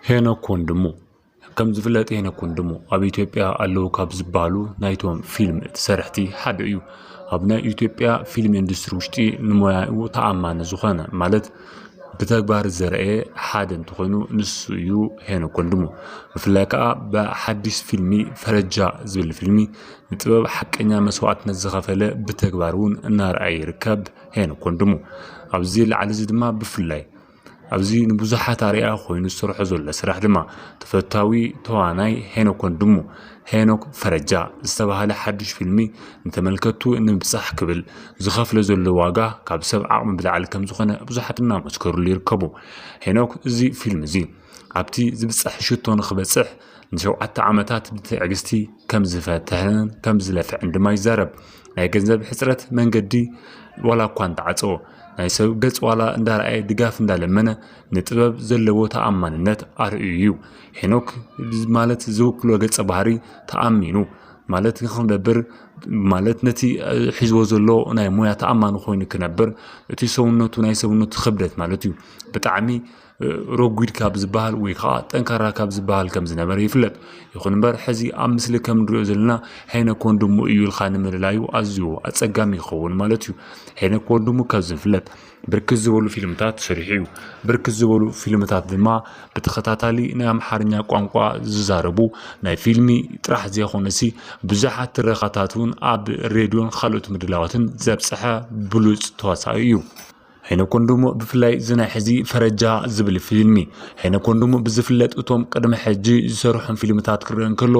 ሄኖክ ወንድሙ ከም ዝፍለጥ ሄኖክ ወንድሙ ኣብ ኢትዮጵያ ኣለዉ ካብ ዝበሃሉ ናይቶም ፊልም ሰረሕቲ ሓደ እዩ። ኣብ ናይ ኢትዮጵያ ፊልም ኢንዱስትሪ ውሽጢ ንሞያኡ ተኣማኒ ዝኾነ ማለት ብተግባር ዘርአየ ሓደ እንተኾይኑ ንሱ እዩ ሄኖክ ወንድሙ። ብፍላይ ከዓ ብሓዲስ ፊልሚ ፈረጃ ዝብል ፊልሚ ንጥበብ ሓቀኛ መስዋእትነት ዝኸፈለ ብተግባር እውን እናርኣየ ይርከብ ሄኖክ ወንድሙ። ኣብዚ ላዕሊ እዚ ድማ ብፍላይ ኣብዚ ንብዙሓት ኣርኣያ ኮይኑ ዝሰርሖ ዘሎ ስራሕ ድማ ተፈታዊ ተዋናይ ሄኖክ ወንድሙ፣ ሄኖክ ፈረጃ፣ ዝተባህለ ሓዱሽ ፊልሚ ንተመልከትቱ ንምብጻሕ ክብል ዝኸፍሎ ዘሎ ዋጋ ካብ ሰብ ዓቕሚ ብላዕሊ ከምዝኾነ ብዙሓት እናመስከርሉ ይርከቡ። ሄኖክ እዚ ፊልም እዚ ኣብቲ ዝብጻሕ ሽቶ ንኽበጽሕ ንሸውዓተ ዓመታት ብትዕግስቲ ከምዝፈተነን ከምዝለፍዐን ድማ ይዛረብ። ናይ ገንዘብ ሕጽረት መንገዲ ዋላ እኳ እንተዓጸወ። ናይ ሰብ ገጽ ዋላ እንዳረኣየ ድጋፍ እንዳለመነ ንጥበብ ዘለዎ ተኣማንነት ኣርእዩ እዩ። ሄኖክ ማለት ዝውክሎ ገጸ ባህሪ ተኣሚኑ ማለት ንክነብር ማለት ነቲ ሒዝዎ ዘሎ ናይ ሞያ ተኣማኒ ኮይኑ ክነብር እቲ ሰውነቱ ናይ ሰውነቱ ክብደት ማለት እዩ ብጣዕሚ ረጒድ ካብ ዝበሃል ወይ ከዓ ጠንካራ ካብ ዝበሃል ከም ዝነበረ ይፍለጥ። ይኹን እምበር ሕዚ ኣብ ምስሊ ከም ንሪኦ ዘለና ሄነ ኮንድሙ እዩ ኢልካ ንምልላዩ ኣዝዩ ኣጸጋሚ ይኸውን ማለት እዩ። ሄነ ኮንድሙ ከም ዝፍለጥ ብርክት ዝበሉ ፊልምታት ሰሪሑ እዩ። ብርክት ዝበሉ ፊልምታት ድማ ብተኸታታሊ ናይ ኣምሓርኛ ቋንቋ ዝዛረቡ ናይ ፊልሚ ጥራሕ ዘይኮነሲ ብዙሓት ትረኻታት እውን ኣብ ሬድዮን ካልኦት ምድላዋትን ዘብፀሐ ብሉፅ ተዋሳኢ እዩ። ሄኖክ ወንድሙ ብፍላይ እዚ ናይ ሕዚ ፈረጃ ዝብል ፊልሚ ሄኖክ ወንድሙ ብዝፍለጥ እቶም ቅድሚ ሕጂ ዝሰርሖም ፊልምታት ክረአ እንከሎ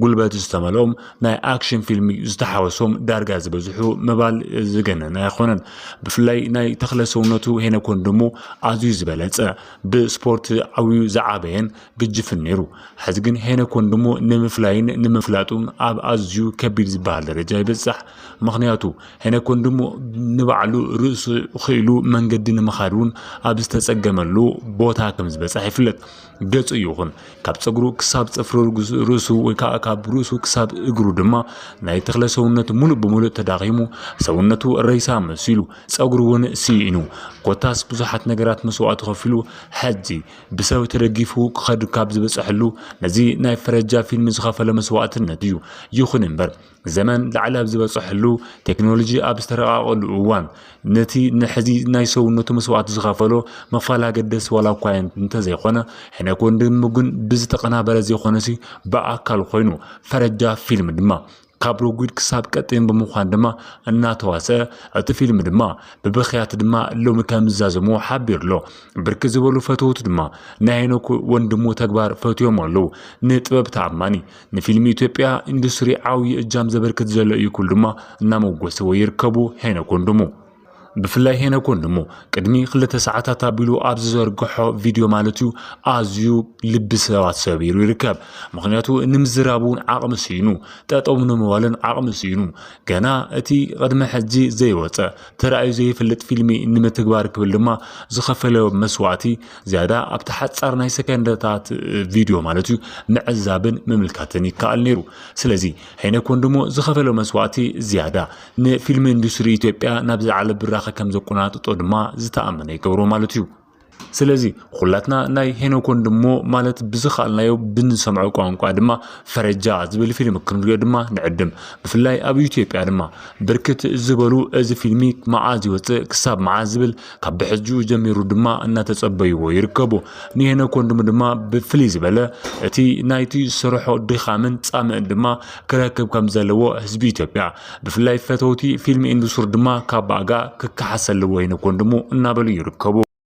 ጉልበት ዝተመልኦም ናይ ኣክሽን ፊልሚ ዝተሓወሶም ዳርጋ ዝበዝሑ ምባል ዝገነነ ኣይኮነን። ብፍላይ ናይ ተክለ ሰውነቱ ሄኖክ ወንድሙ ኣዝዩ ዝበለጸ ብስፖርት ዓብዩ ዝዓበየን ግጅፍን ነይሩ። ሕዚ ግን ሄኖክ ወንድሙ ንምፍላይን ንምፍላጡን ኣብ ኣዝዩ ከቢድ ዝበሃል ደረጃ ይበጽሕ ምኽንያቱ ሄነኮን ድሞ ንባዕሉ ርእሱ ኽኢሉ መንገዲ ንምኻድ እውን ኣብ ዝተጸገመሉ ቦታ ከም ዝበጽሐ ይፍለጥ። ገጹ ይኹን ካብ ጸጉሩ ክሳብ ጽፍሪ ርእሱ ወይ ከዓ ካብ ርእሱ ክሳብ እግሩ ድማ ናይ ተኽለ ሰውነት ሙሉእ ብምሉእ ተዳኺሙ ሰውነቱ ረይሳ መሲሉ ጸጉሩ እውን ስኢኑ ኮታስ ብዙሓት ነገራት መስዋእቲ ከፊሉ ሕዚ ብሰብ ተደጊፉ ክኸድ ካብ ዝበጽሐሉ ነዚ ናይ ፈረጃ ፊልም ዝኸፈለ መስዋእትነት እዩ። ይኹን እምበር ዘመን ላዕሊ ኣብ ዝበፀሐሉ ቴክኖሎጂ ኣብ ዝተረቃቐሉ እዋን ነቲ ንሕዚ ናይ ሰውነቱ መስዋእቲ ዝኸፈሎ ምኽፋል ኣገደሲ ዋላ እኳ እንተዘይኮነ ሕነ ኮንድም ግን ብዝተቀናበረ ዘይኮነሲ ብኣካል ኮይኑ ፈረጃ ፊልም ድማ ካብ ረጒድ ክሳብ ቀጢን ብምዃን ድማ እናተዋስአ እቲ ፊልም ድማ ብብኽያት ድማ ሎሚ ከም ዝዛዘሙ ሓቢሩ ኣሎ ብርኪ ዝበሉ ፈተውቱ ድማ ናይ ሄኖክ ወንድሙ ተግባር ፈትዮም ኣለዉ ንጥበብ ተኣማኒ ንፊልም ኢትዮጵያ ኢንዱስትሪ ዓብዪ እጃም ዘበርክት ዘሎ እዩ ክብሉ ድማ እናመጎስዎ ይርከቡ ሄኖክ ወንድሙ። ብፍላይ ሄኖክ ወንድሙ ቅድሚ ክልተ ሰዓታት ኣቢሉ ኣብ ዝዘርግሖ ቪድዮ ማለት እዩ ኣዝዩ ልቢ ሰባት ሰቢሩ ይርከብ። ምክንያቱ ንምዝራብ እውን ዓቕሚ ስኢኑ፣ ጠጠው ንምባልን ዓቕሚ ስኢኑ፣ ገና እቲ ቅድሚ ሕጂ ዘይወፀ ተራእዩ ዘይፈልጥ ፊልሚ ንምትግባር ክብል ድማ ዝኸፈለ መስዋእቲ ዝያዳ ኣብቲ ሓጻር ናይ ሰከንደታት ቪድዮ ማለት እዩ ምዕዛብን ምምልካትን ይከኣል ነይሩ። ስለዚ ሄነ ኮንድሞ ዝኸፈሎ መስዋእቲ ዝያዳ ንፊልም ኢንዱስትሪ ኢትዮጵያ ናብ ዝለዓለ ብራኸ ከም ዘቆናጥጦ ድማ ዝተኣመነ ይገብሮ ማለት እዩ። ስለዚ ኩላትና ናይ ሄኖክ ወንድሞ ማለት ብዝኸኣልናዮ ብንሰምዖ ቋንቋ ድማ ፈረጃ ዝብል ፊልም ክንሪኦ ድማ ንዕድም። ብፍላይ ኣብ ኢትዮጵያ ድማ ብርክት ዝበሉ እዚ ፊልሚ መዓዝ ይወፅእ ክሳብ መዓዝ ዝብል ካብ ብሕጁ ጀሚሩ ድማ እናተጸበይዎ ይርከቡ። ንሄኖክ ወንድሙ ድማ ብፍልይ ዝበለ እቲ ናይቲ ስርሖ ድኻምን ጻምእን ድማ ክረክብ ከም ዘለዎ ህዝቢ ኢትዮጵያ ብፍላይ ፈተውቲ ፊልም ኢንዱስትሪ ድማ ካብ ባእጋ ክከሓስ ኣለዎ ሄኖክ ወንድሙ እናበሉ ይርከቡ።